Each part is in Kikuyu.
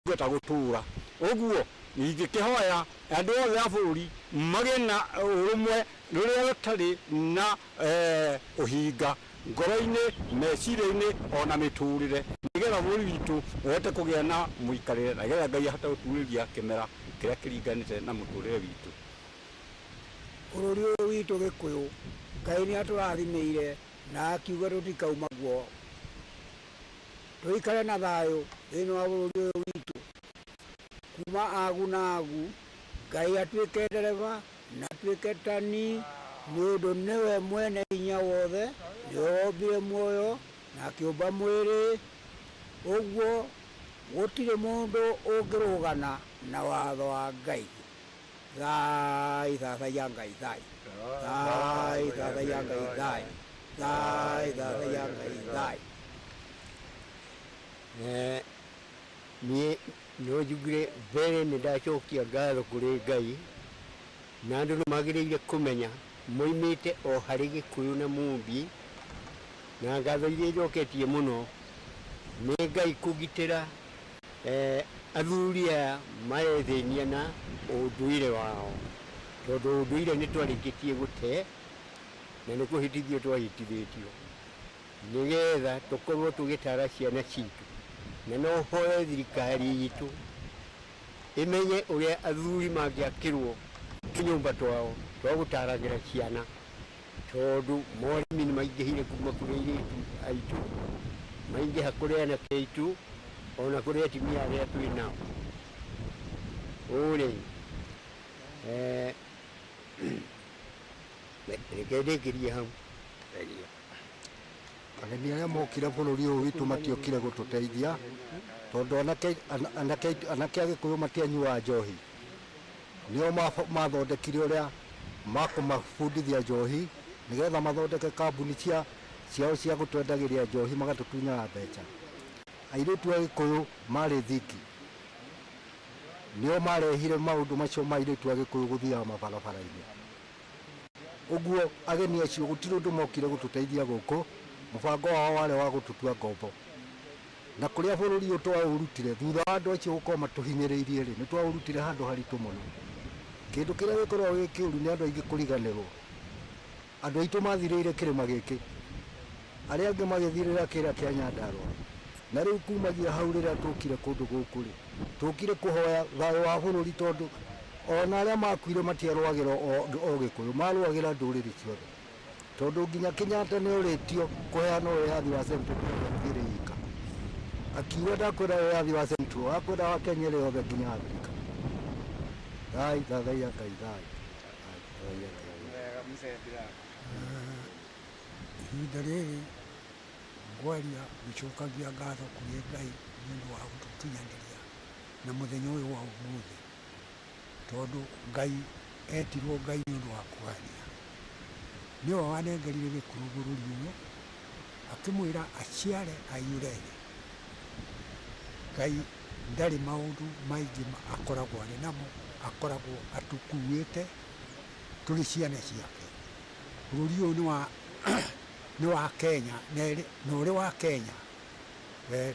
Ingĩhota gũtũũra ũguo, ingĩkĩhoya andũ othe a bũrũri magĩe na ũrũmwe rũrĩa rũtarĩ na ũhinga ngoro-inĩ, meciria-inĩ o na mĩtũrĩre, nĩgetha bũrũri witũ ũhote kũgĩa na mũikarĩre, na nĩgetha Ngai ahote gũtuurĩria kĩmera kĩrĩa kĩringanĩte na mũtũrĩre witũ. Bũrũri ũyũ witũ Gĩkũyũ, Ngai nĩ atũrathimĩire na akiuga tũtikauma guo. Tũikare na thayũ thĩinĩ wa bũrũri ũyũ witũ. Kuma agu na agu, Ngai atuĩke ndereba na atuĩke tani, nĩ ũndũ nĩwe mwene hinya wothe, nĩwe wombire muoyo na akĩũmba mwĩrĩ. Ũguo gũtirĩ mũndũ ũngĩrũgana na watho wa Ngai. Thaai, thathaiya Ngai, thaai. Thaai, thathaiya Ngai, thaai. Thaai, thathaiya Ngai, thaai. Eh, niĩ no njugire mbere nĩ ndacokia ngatho kũrĩ Ngai, na andũ nĩ magĩrĩire kũmenya moimĩte o harĩ Gĩkũyũ na Mũmbi, na ngatho iria njoketie mũno nĩ Ngai kũgitĩra Athuri aya marethĩnia na ũndũire wao, tondũ ũndũire nĩ twarĩkĩtie gũte, na nĩ kũhĩtithio twahĩtithĩtio, nĩgetha tũkorwo tũgĩtara ciana citũ. Na no hoe thirikari itũ ĩmenye ũrĩa athuri mangĩakĩrwo tũnyũmba twao twa gũtaragĩra ciana, Tondũ moremi nĩ maingĩhire kuuma kũrĩ airĩtu aitũ, maingĩha kũrĩ anake aitũ, o na kũrĩ atumia arĩa twĩ nao. Ũũ-rĩ, reke ndĩkĩrie hau. Thengiũ. Ageni arĩa mokire bũrũri ũyũ witũ matiokire gũtũteithia tondũ anake Agĩkũyũ matianyuaga njohi. Nĩo maathondekire ũrĩa makũmabundithia njohi nĩgetha mathondeke kambuni cia ciao cia gũtwendagĩria njohi magatũtunyaga mbeca. Airĩtu a Gĩkũyũ marĩ thiki. Nĩo marehire maũndũ macio ma airĩtu a Gĩkũyũ gũthiaga mabarabara-inĩ. Ũguo ageni acio gũtirĩ ũndũ mokire gũtũteithia gũkũ, mũbango wao warĩ wa gũtũtua ngombo. Na kũrĩa bũrũri ũyũ twaũrutire, thutha wa andũ acio gũkorwo matũhinyĩrĩirie-rĩ, nĩtwaũrutire handũ haritũ mũno. Kĩndũ kĩrĩa gĩkoragwo gĩ kĩũru nĩ andũ aingĩ kũriganĩrwo. Andũ aitũ mathirĩire kĩrĩma gĩkĩ, arĩa angĩ magĩthirĩra kĩrĩa kĩa Nyandarũa. Na rĩu kumagia hau rĩrĩa tũkire kũndũ gũkũ-rĩ, tũkire kũhoya thayũ wa bũrũri tondũ ona arĩa makuire matiarũagĩra o Ũgĩkũyũ, marũagĩra ndũrĩrĩ ciothe. Tondũ nginya Kenyatta nĩorĩtio kũheana wĩyathi wa Central Province ĩrĩ yika. Akiuga ndakwenda wĩyathi wa Central, akwenda wa Kenya ĩrĩ yothe nginya Afrika. Thai, thathaiya Ngai, thayũ. Thathaiya Ngai. Wega mzee Bilali. Ihinda rĩrĩ ngwaria ngĩcokagia ngatho kũrĩ Ngai nĩ ũndũ wa gũtũkinyanĩria na mũthenya ũyũ wa ũmũthĩ. Tondũ Ngai eetirwo Ngai nĩ ũndũ wa kũgania, nĩwe wanengerire gĩkũyũ bũrũri ũyũ, akĩmwĩra aciare aiyũre thĩ. Ngai ndarĩ maũndũ maingĩ akoragwo arĩ namo, akoragwo atũkuuĩte tũrĩ ciana ciake. Bũrũri ũyũ nĩ wa nĩ wa Kenya, na ũrĩ wa Kenya.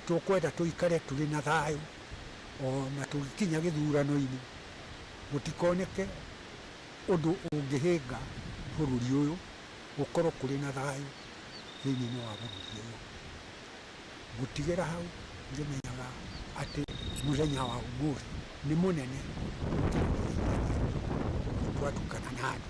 Tũkwenda tũikare tũrĩ na thayũ o na tũgĩkinya gĩthurano-inĩ, gũtikoneke ũndũ ũngĩhĩnga bũrũri ũyũ, gũkorwo kũrĩ na thayũ thĩinĩ-inĩ wa bũrũri ũyũ. Gũtigĩra hau ngĩmenyaga atĩ mũthenya wa ũmũthĩ nĩ mũnene gũkĩra mĩthenya ĩngĩ yothe twatukana na andũ.